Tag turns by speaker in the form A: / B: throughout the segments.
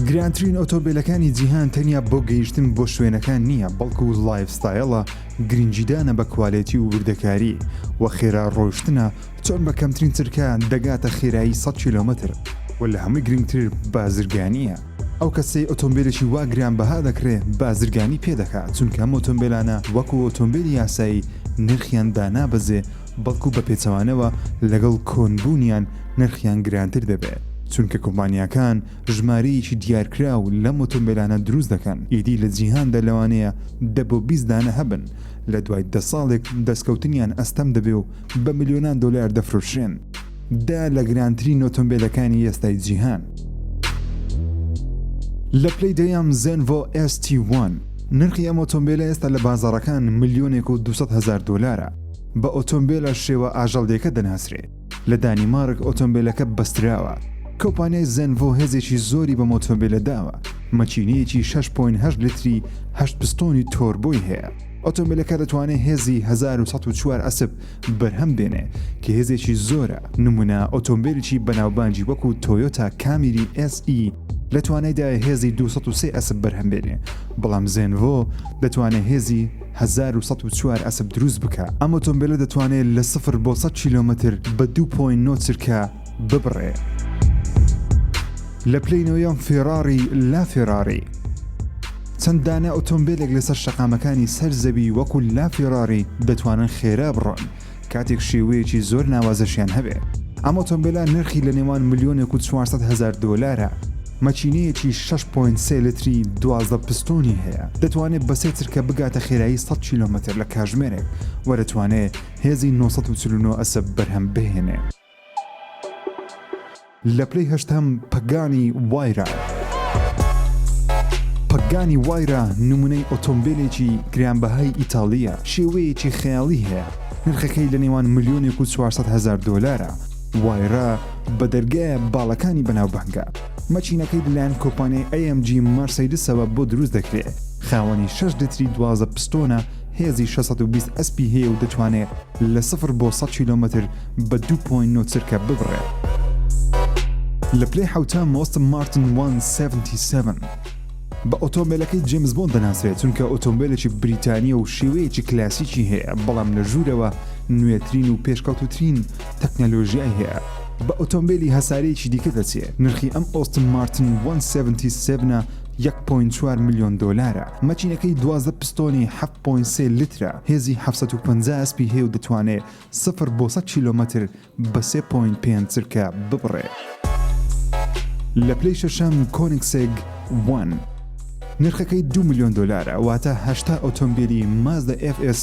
A: گرانترین ئۆتۆبیلەکانی جیهان تەنیا بۆ گەیشتن بۆ شوێنەکان نییە بەڵکو و لایف ستایلە گرنگجیدانە بە کوالێتی و وردەکاری و خێرا ڕۆشتنە چۆن بە کەمترین چرکە دەگاتە خێرایی 100 کیلومتر و لە هەمووی گرنگتر بازرگانیە ئەو کەسەی ئۆتۆمبیلێکی وا گران بەها دەکرێ بازرگانی پێ دەکات چونکە ئەم ئۆتۆمبیلانە وەکو ئۆتۆمبیلی یاسایی نرخیان دانابەزێ بەڵکو بە پێچەوانەوە لەگەڵ کۆن بوونیان نرخیان گرانتر دەبێت، چونکە کۆمپانیاکان ژمارەیەکی دیارکراو لەم ئۆتۆمبێلانە دروست دەکەن، ئیدی لە جیهاندا لەوانەیە دە بۆ بیست دانە هەبن، لە دوای دە ساڵێک دەستکەوتنیان ئەستەم دەبێ و بە ملیۆنان دۆلار دەفرۆشرێن، دە لە گرانترین ئۆتۆمبێلەکانی ئێستای جیهان. لە پلەی دەیەم زێنڤۆ ئێس تی وان، نرخی ئەم ئۆتۆمبێلە ئێستا لە بازاڕەکان ملیۆنێک و دوو سەد هەزار دۆلارە، بە ئۆتۆمبێلە شێوە ئاژەڵدێکە دەناسرێ. لە دانیمارک ئۆتۆمبێلەکە بەستراوە. کۆپانیای زێنڤۆ هێزێکی زۆری بەم ئۆتۆمبێلە داوە، مەکینەیەکی شەش پۆینت هەشت لیتری هەشت پستۆنی تۆربۆی هەیە. ئۆتۆمبێلەکە دەتوانێ هێزی هەزار و سەد و چوار ئەسپ بەرهەم بێنێ کە هێزێکی زۆرە. نمونە ئۆتۆمبێلێکی بەناوبانگی وەکو تۆیۆتا کامیری ئێس ئی لە توانایدایە هێزی دوو سەد و سێ ئەسپ بەرهەم بێنێ، بەڵام زێنڤۆ دەتوانێ هێزی. هەزار و سەد و چوار ئەسپ دروست بکە، ئەم ئۆتۆمبێلە دەتوانێت لە سفر بۆ سەد کیلۆمەتر بە دوو پۆینت نۆ چرکە ببڕێ. لە پلەی نۆیەم فێڕاڕی لا فێڕاڕی چەند دانە ئۆتۆمبێلێک لەسەر شەقامەکانی سەر زەوی وەکو لا فێڕاڕی دەتوانن خێرا بڕۆن. کاتێک شێوەیەکی زۆر ناوازەشیان هەبێ. ئەم ئۆتۆمبێلە نرخی لە نێوان ملیۆنێک و چوار سەد هەزار دۆلارە، مەکینەیەکی شەش پۆینت سێ لیتری دوازدە پستۆنی هەیە، دەتوانێ بە سێ چرکە بگاتە خێرایی سەد کیلۆمەتر لە کاژمێرێک و دەتوانێ هێزی نۆ سەد و چل و نۆ ئەسپ بەرهەم بهێنێ. لە پلەی هەشتەم پەگانی وایرا پەگانی وایرا نمونەی ئۆتۆمبیلێکی گرانبەهای ئیتاڵیە شێوەیەکی خەیاڵی هەیە نرخەکەی لە نێوان ملیۆنێک و 400 هەزار دۆلارە وایرا بە دەرگایە باڵەکانی بەناوبانگە مەچینەکەی لەلایەن کۆپانیای AMG مارسەیدسەوە بۆ دروست دەکرێ خاوەنی 6 لتری دوازدە پستۆنە هێزی 620 ئەسپی هەیە و دەتوانێت لە سفر بۆ 100 کیلۆمەتر بە دوو پۆینت نۆ چرکە ببڕێت. لە پلەی حەوتام ئۆستن مارتن وان سێڤنتی سێڤن بە ئۆتۆمبێلەکەی جێمس بۆند دەناسرێت چونکە ئۆتۆمبێلێکی بریتانییە و شێوەیەکی کلاسیکی هەیە بەڵام لە ژوورەوە نوێترین و پێشکەوتووترین تەکنەلۆژیای هەیە بە ئۆتۆمبێلی هەسارەیەکی دیکە دەچێ نرخی ئەم ئۆستن مارتن وان سێڤنتی سێڤنە یەک پۆینت چوار ملیۆن دۆلارە مەکینەکەی دوازدە پستۆنی حەفت پۆینت سێ لیترە هێزی حەفت سەد و پەنجا ئەسپی هەیە و دەتوانێ سفر بۆ سەد کیلۆمەتر بە سێ پۆینت پێنج چرکە ببڕێ. لە پلەی شەشەم کۆنگسێگ وان نرخەکەی دوو ملیۆن دۆلارە واتە هەشتا ئۆتۆمبیلی مازدا ئێف ئێس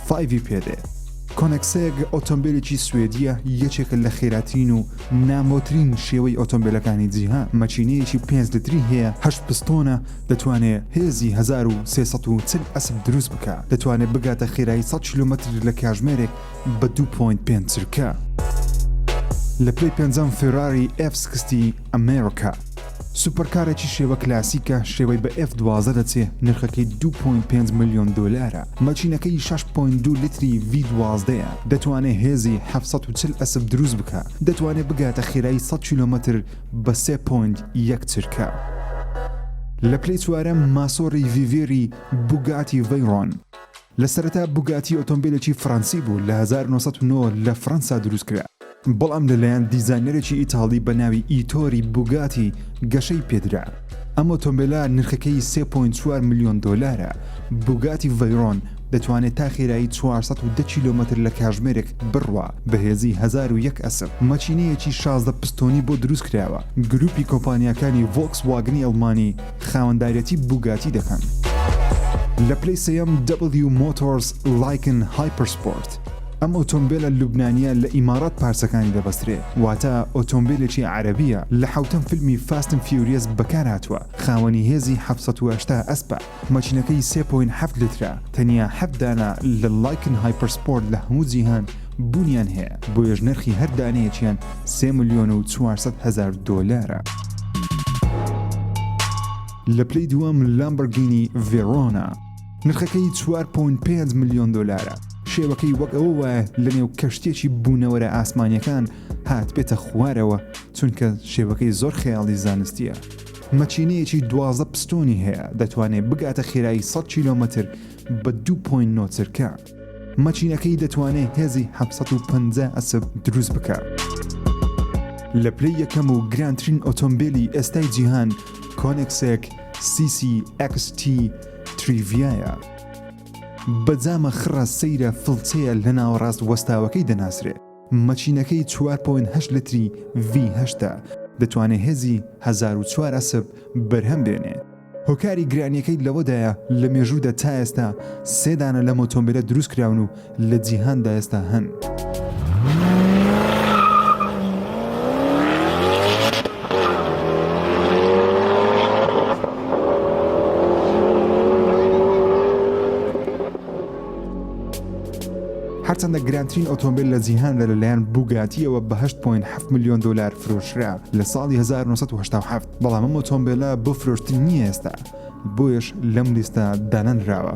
A: فایڤی پێدێ. کۆنگسێگ ئۆتۆمبیلێکی سوێدییە یەکێکە لە خێراترین و نامۆترین شێوەی ئۆتۆمبیلەکانی جیهان، مەکینەیەکی پێنج لتری هەیە، هەشت پستۆنە، دەتوانێ هێزی هەزار و سێ سەد و چل ئەسپ دروست بکا، دەتوانێ بگاتە خێرایی سەد کیلۆمەتر لە کاژمێرێک بە دوو پۆینت پێنج چرکە. لە پلەی پێنجەم فێراری ئێف سکستی ئەمێرکا. سوپەرکارێکی شێوە کلاسیکە، شێوەی بە ئێف دوازدە دەچێ، نرخەکەی دوو پۆینت پێنج ملیۆن دۆلارە، مەچینەکەی شەش پۆینت دوو لیتری ڤی دوازدە یە، دەتوانێ هێزی حەفت سەد و چل ئەسپ دروست بکا، دەتوانێ بگاتە خێرایی سەد کیلۆمەتر بە سێ پۆند یەک چرکە. لە پلەی چوارەم ماسۆڕی ڤیڤێری بوگاتی ڤەیڕۆن. لە سەرەتا بوگاتی ئۆتۆمبێلێکی فڕەنسی بوو لە هەزار و نۆ سەد و نۆ لە فڕەنسا دروست کرا بەڵام لە لایەن دیزاینەرێکی ئیتاڵی بە ناوی ئیتۆری بوگاتی گەشەی پێ درا. ئەم ئۆتۆمبیلە نرخەکەی 3.4 ملیۆن دۆلارە، بوگاتی ڤەیرۆن دەتوانێت تا خێرایی 410 کیلۆمەتر لە کاژمێرێک بڕوا، بەهێزی 1001 ئەسپ، مەکینەیەکی 16 پستۆنی بۆ دروستکراوە، گروپی کۆمپانیاکانی ڤۆکس واگنی ئەڵمانی خاوەندارێتی بوگاتی دەکەن. لە پلەی سێیەم، دەبڵیو مۆتۆرز لایکن هایپەرسپۆرت. ئەم ئۆتۆمبێلە لوبنانیە لە ئیماڕات پارچەکانی دەبەسترێ واتە ئۆتۆمبێلێکی عەرەبیە لە حەوتەم فیلمی فاست ئەند فیوریەس بەکارهاتووە خاوەنی هێزی حەوت سەد و هەشتا ئەسپە مەکینەکەی سێ پۆینت حەفت لیترە تەنیا حەفت دانە لە لایکن هایپەرسپۆرت لە هەموو جیهان بوونیان هەیە بۆیەش نرخی هەر دانەیەکیان سێ ملیۆن و چوار سەد هەزار دۆلارە. لە پلەی دووەم لامبۆرگینی ڤێرۆنا. نرخەکەی چوار پۆینت پێنج ملیۆن دۆلارە شێوەکەی وەک ئەوە وایە لەنێو کەشتێکی بوونەوەرە ئاسمانیەکان هات بێتە خوارەوە چونکە شێوەکەی زۆر خەیاڵی زانستیە مەچینەیەکی دوازە پستۆنی هەیە دەتوانێت بگاتە خێرایی 100 کیلۆمەتر بە 2.9 چرکە. مەچینەکەی دەتوانێت هێزی 750 ئەسپ دروست بکات. لە پلەی یەکەم و گرانترین ئۆتۆمبیلی ئێستای جیهان کۆنێکسێک CCXT تریڤایە. بە جامە خڕە سەیرە فڵچەیە لە ناوەڕاست وەستاوەکەی دەناسرێت. مەچینەکەی 4.8 لتری V8 دەتوانێت هێزی 1004 ئەسپ بەرهەم بێنێت. هۆکاری گرانییەکەی لەوەدایە لە مێژوودا تا ئێستا سێ دانە لەم ئۆتۆمبێلە دروست کراون و لە جیهاندا ئێستا هەن. هەرچەندە گرانترین ئۆتۆمبیل لە جیهاندا لەلایەن بوگاتیەوە بە 8.7 میلیۆن دلار فرۆشرا لە ساڵی 1970 بەڵام ئەم ئۆتۆمبێلە بۆ فرۆشتن نییە ئێستا بۆیەش لەم لیستە دانەنراوە.